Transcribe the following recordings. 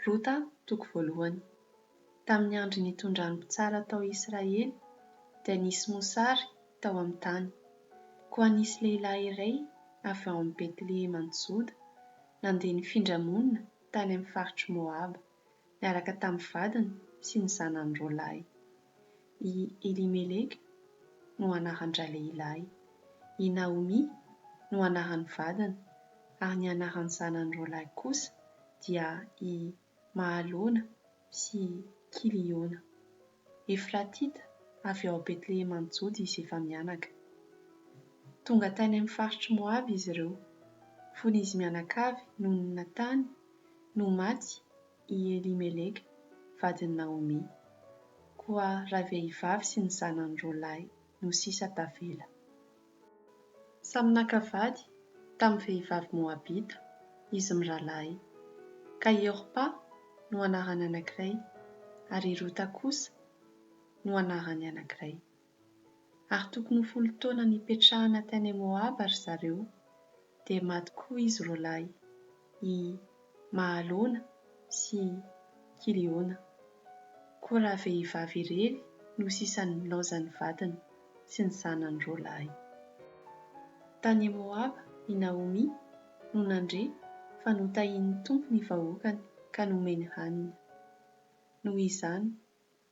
Rota toko voalohany. Tamin'ny andro nitondran'ny mpitsara tao Israely dia nisy mosary tao amin'ny tany. Koa nisy lehilahy iray avy ao amin'ny Betlehema any Joda nandeha nifindra monina tany amin'ny faritr'i Moaba, niaraka tamin'ny vadiny sy ny zanany roa lahy. I Elimeleka no anaran-dralehilahy, i Naomia no anaran'ny vadiny, ary ny anaran'ny zanany roa lahy kosa dia i Mahalona sy Kiliona. Efratita avy ao Betleheman'i Joda izy efa mianaka. Tonga tany amin'ny faritr'i Moaba izy ireo, fony izy mianakavy nonina tany no maty i Elimeleka, vadin'i Naomy. Koa ravehivavy sy ny zanany roa lahy no sisa tavela. Samy naka vady tamin'ny vehivavy moabita izy mirahalahy, ka i Orpa no anaran'ny anankiray, ary i Rota kosa no anaran'ny anankiray. Ary tokony ho folo taona nipetrahana tany Moaba ry zareo, dia maty koa izy roalahy, i Mahalona sy Kiliona. Koa ravehivavy irery no sisany nilaozan'ny vadiny sy ny zanany roalahy. Tany Moaba i Naomy no nandre fa notahian'ny Tompo ny vahoakany ka nomeny hanina. Noho izany,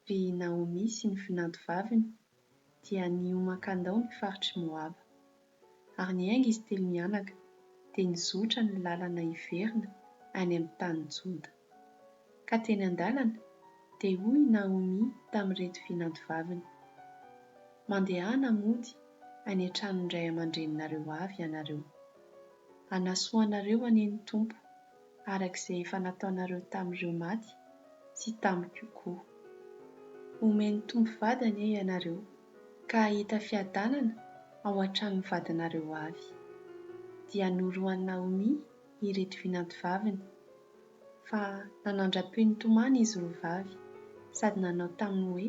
Ry Naomy sy ny vinantovaviny dia nihoman-kandao ny faritr'i Moaba. Ary niainga izy telo mianaka, dia nizotra ny lalana hiverina any amin'ny tanin'i Joda. Ka teny an-dalana, dia hoy i Naomy tamin'ireto vinantovaviny, Mandehana mody any an-tranon'ny ray aman-dreninareo avy ianareo. Hanasoa anareo anie ny Tompo. araka izay efa nataonareo tamin'ireo maty sy tamiko koa. Homen'ny Tompo vady anie ianareo ka hahita fiadanana ao an-tranon'ny vadinareo avy. Dia norohan'i Naomy ireto vinantovaviny, fa nanandra-peo nitomany izy roa vavy sady nanao taminy hoe,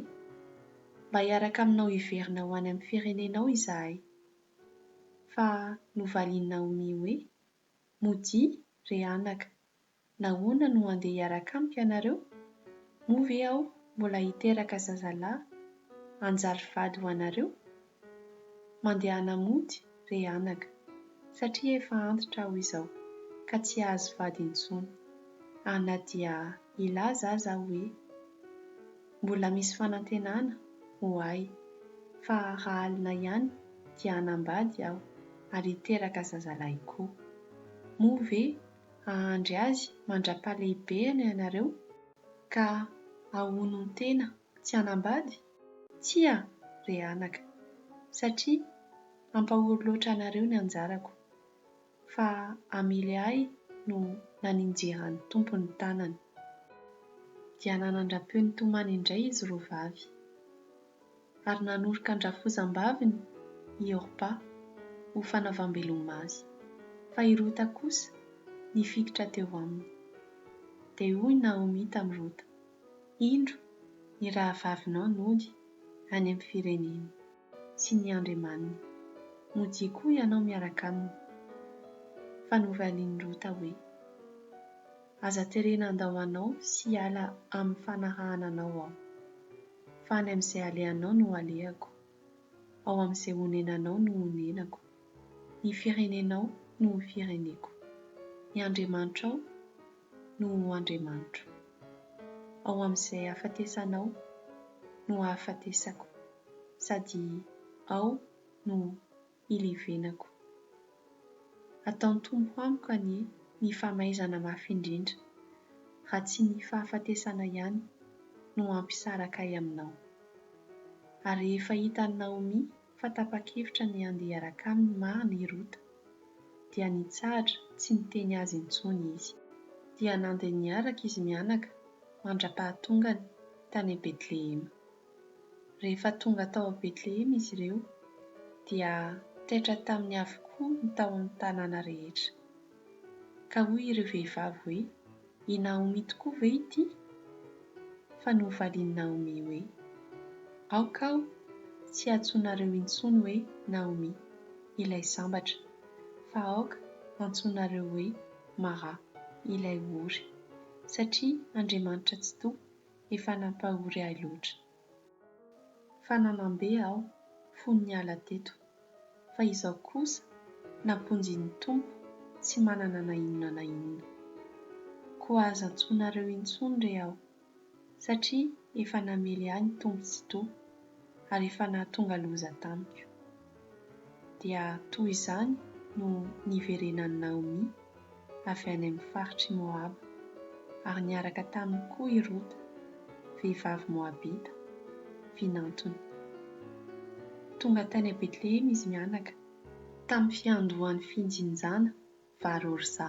Mba hiaraka aminao hiverina ho any amin'ny firenenao izahay. Fa novalian'i Naomy hoe, Modia, re anaka, nahoana no handeha hiaraka amiko ianareo? Moa ve aho mbola hiteraka zazalahy hanjary vady ho anareo? Mandehana mody, re anaka, satria efa antitra aho izao, ka tsy hahazo vady intsony. Ana dia hilaza aza aho hoe. Mbola misy fanantenana ho ahy fa raha alina ihany dia hanambady aho ary hiteraka zazalahy koa. Moa ve hahandry azy mandra-pahalehibehana ianareo ka hahonon-tena tsy hanambady? Tsia re anaka, satria hampahory loatra anareo ny anjarako. fa hamely ahy no naninjeran'ny Tompo ny tanany. Dia nanandra-peo nitomany indray izy roa vavy. Ary nanoroka an-drafozam-baviny i Orpa ho fanaovam-beloma azy, fa i Rota kosa nifikitra teo aminy. Dia hoy Naomi tamin'i Rota, Indro, ny rahavavinao nody any amin'ny fireneny. sy ny andriamaniny. Modia koa ianao miaraka aminy. Fa novalian'i Rota hoe, Aza terena handao anao sy hiala amin'ny fanarahana anao aho. Fa any amin'izay alehanao no alehako, ao amin'izay onenanao no onenako, ny firenenao no ho fireneko. Ny andriamanitrao no ho Andriamanitro. Ao amin'izay ahafatesanao no hahafatesako sady ao no hilevenako. Ataon'ny Tompo amiko anie ny famaizana mafy indrindra raha tsy ny fahafatesana ihany no hampisaraka ahy aminao. Ary rehefa hitan'i Naomia fa tapa-kevitra ny handeha hiaraka aminy marina i Rota. Dia nitsahatra tsy niteny azy intsony izy. Dia nandeha niaraka izy mianaka mandra-pahatongany tany Betlehema. Rehefa tonga tao Betlehema izy ireo, dia taitra taminy avokoa ny tao amin'ny tanàna rehetra. Ka hoy ireo vehivavy hoe, I Naomi tokoa ve ity? Fa novalian'i Naomi hoe, Aoka aho tsy hiantsoanareo intsony hoe Naomi, ilay sambatra, fa aoka hantsoinareo hoe Mara, ilay ory, satria Andriamanitra Tsitoha efa nampahory ahy loatra. Fa nanam-be aho, fony niala teto. Fa izao kosa, namponjin'ny Tompo, tsy manana na inona na inona. Koa aza antsoinareo intsony re aho, satria efa namely ahy ny Tompo Tsitoha, ary efa nahatonga loza tamiko. dia toy izany no niverenan'i Naomy avy any amin'ny faritr'i Moaba, ary niaraka taminy koa i Rota, vehivavy moabita, vinantony. Tonga tany Betlehema izy mianaka, tamin'ny fiandohan'ny fijinjana vary orza.